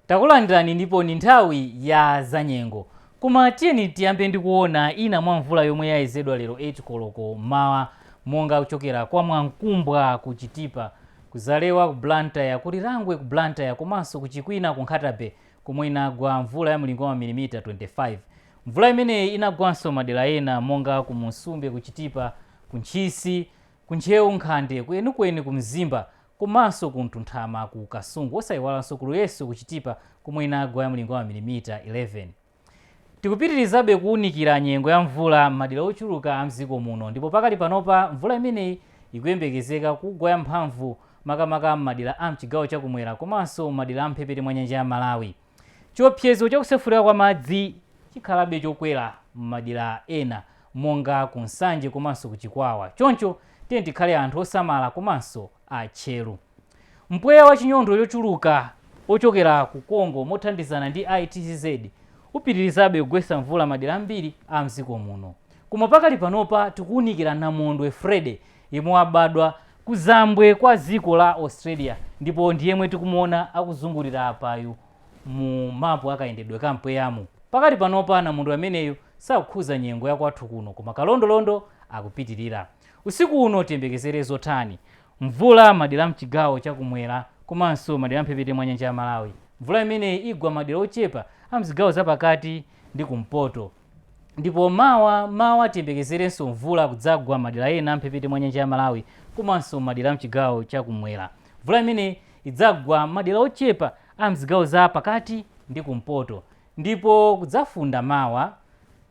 takulandirani ndipo ni nthawi ya zanyengo koma tiyeni tiyambe ndi kuona ina mwa mvula yomwe yayezedwa lero 8 koloko m'mawa monga kuchokera kwa mwamkumbwa ku chitipa ku zalewa ku blantyre ku lirangwe ku blantyre komanso ku chikwina ku nkhata bay komwe inagwa mvula ya mlingo wa mamilimita 25. Mvula imeneyi inagwanso madera ena monga ku Musumbe, ku Chitipa, ku Ntchisi, ku Ntcheu, Nkhande, ku Enukweni, ku Mzimba komanso ku Mtunthama ku Kasungu osaiwalanso ku Luyeso ku Chitipa komwe inagwa ya mlingo wa mamilimita 11. Tikupitirizabe kuunikira nyengo ya mvula m'madera ochuluka a m'dziko muno ndipo pakali panopa mvula imeneyi ikuyembekezeka kugwa ya mphamvu makamaka m'madera am'chigawo cha kumwera komanso m'madera am'mphepete mwa nyanja ya Malawi. Chiopsezo cha kusefukira kwa madzi chikhalabe chokwera m'madera ena monga ku Nsanje komanso ku Chikwawa choncho tiyeni tikhale anthu osamala komanso a tcheru. Mpweya wa chinyontho chochuluka wochokera ku Congo mothandizana ndi ITCZ upitirizabe kugwetsa mvula madera ambiri am'dziko muno. Koma pakali panopa tikuunikira namondwe Freddy yemwe wabadwa kuzambwe kwa dziko la Australia ndipo ndi yemwe tikumuona akuzungulira apayu mu mapu a kayendedwe ka mpweyamu. Pakali panopa namondwe ameneyu sakukhudza nyengo ya kwathu kuno koma kalondolondo akupitilira. Usiku uno tiyembekezere zotani? Mvula madera a mchigawo cha kumwera komanso madera a mphepete mwa nyanja ya Malawi. Mvula imeneyi igwa madera ochepa a mzigawo za pakati ndi kumpoto. Ndipo mawa mmawa tiyembekezerenso mvula kudzagwa madera ena amphepete mwa nyanja ya Malawi komanso madera amchigawo cha kumwera. Mvula imeneyi idzagwa madera ochepa amzigawo za pakati ndi kumpoto ndipo kudzafunda mawa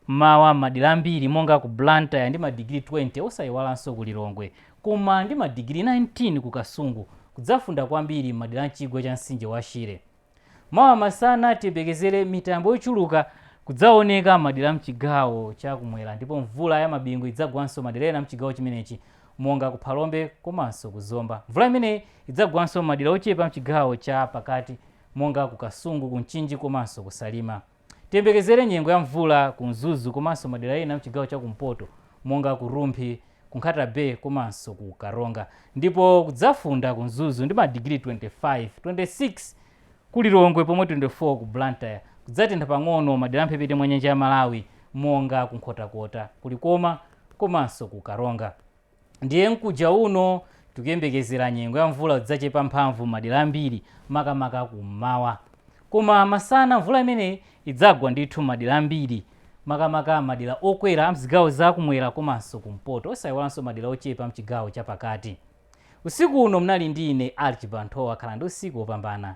mmawa mmadera ambiri monga ku Blantyre ndi madigiri 20 osayiwalanso ku Lilongwe koma ndi madigiri 19 ku Kasungu. Kudzafunda kwambiri mmadera amchigwa cha mtsinje wa Shire. Mawa masana tiyembekezere mitambo yochuluka kudzaoneka madera a m'chigawo cha kumwera ndipo mvula ya mabingu idzagwanso madera ena a m'chigawo chimenechi monga ku Phalombe komanso ku Zomba. Mvula imeneyi idzagwanso m'madera ochepa a m'chigawo cha pakati monga ku Kasungu, ku Mchinji komanso ku Salima. Tiyembekezere nyengo ya mvula ku Mzuzu komanso madera ena mchigawo cha kumpoto monga ku Rumphi, ku Nkhata Bay komanso ku Karonga ndipo kudzafunda ku Mzuzu ndi madigiri 25, 26 ku Lilongwe pomwe 24 ku Blantyre. Kudzatentha pang'ono madera a mphepete mwa nyanja ya Malawi monga ku Nkhotakota, ku Likoma komanso ku Karonga. Ndiye mkuja uno tikuyembekezera nyengo ya mvula idzachepa mphamvu m'madera ambiri makamaka kum'mawa. Koma masana mvula imeneyi idzagwa ndithu m'madera ambiri makamaka madera okwera a m'zigawo za kumwera komanso kumpoto osaiwalanso madera ochepa am'chigawo chapakati. Usiku uno munali ndi ine Archibald Nthowa khalani ndi usiku wopambana.